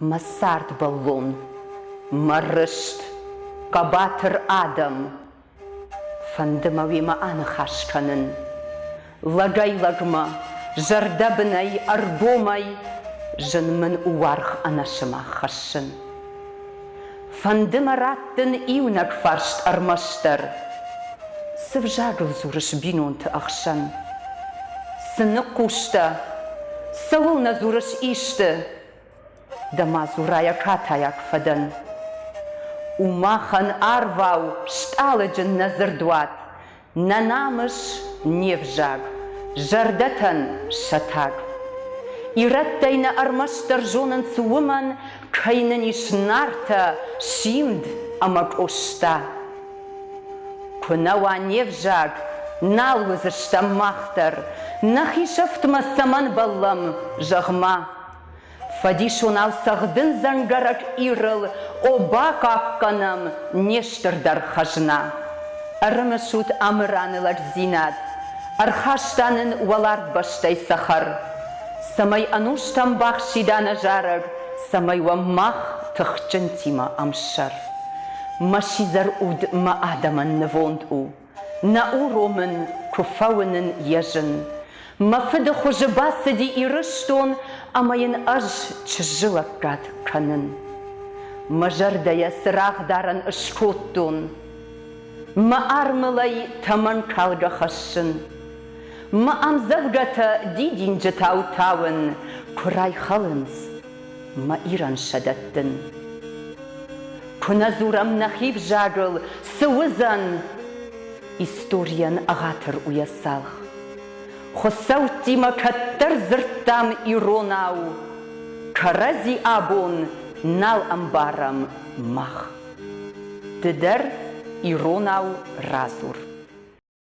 Мӕ цардбӕллон, мӕ рыст, хъӕбатыр адӕм. Фӕнды мӕ уемӕ аныхас кӕнын. Лӕгӕй-лӕгмӕ, зӕрдӕбынӕй, ӕргомӕй зын мын у уаргъ ӕнӕсымах хӕссын. Фӕнды мӕ раттын иунӕг фарст ӕрмӕстдӕр. Цы взагыл дзурыс бинонты ӕхсӕн? Цы ныхъхъус дӕ? Цӕуылнӕ дзурыс исты? Дӕ-ма дзурайӕ катайаг фӕдӕн. У махӕн арвау стъалыджын нӕ дзырдуат, Нӕ намыс, не взаг, зӕрдӕтӕн сатӕг. Ирӕттӕй нӕ ӕрмӕстдӕр зонынц уымӕн, Кӕй нын ис Нартӕ, Симд ӕмӕ Къоста. Куы нӕ уа не взаг, нал уыдзыстӕм мах дӕр, Нӕхи сӕфтмӕ цӕмӕн бӕллӕм, зӕгъ-ма. Фӕдисонау цӕгъдын дзӕнгӕрӕг Ирыл, О, бахъахъхъӕнӕм не стырдӕр хӕзна! Ӕрымысут Амыраны лӕгдзинад, Ӕрхаста нын уӕларвбӕстӕй цӕхӕр, Цӕмӕй ӕнустӕм бахсида нӕ зарӕг, Цӕмӕй уӕм мах, тыхджынтимӕ ӕмсӕр. Мӕ сидзӕр уд мӕ адӕмӕн нывонд у. Нӕ уромын, куы фӕуынын йӕ зын. Мӕ фыды хуызы бацыди Ирыстон ӕмӕ йын ӕз чызджы лӕггад кӕнын. Мӕ зӕрдӕйӕ цырагъдарӕн ыскодтон. Мӕ армылӕй тӕмӕнкалгӕ хӕссын. Мӕ ӕмдзӕвгӕтӕ дидинджытау тауын куы райхалынц мӕ Ирӕн сӕ дӕттын. Куы нӕ дзурӕм нӕхи взагыл, цы уыдзӕн? Историйӕн ӕгъатыр у йӕ цалх. Хуыцӕуттимӕ кӕддӕр дзырдтам иронау, Кӕрӕдзи абон нал ӕмбарӕм мах. Ды дӕр иронау радзур.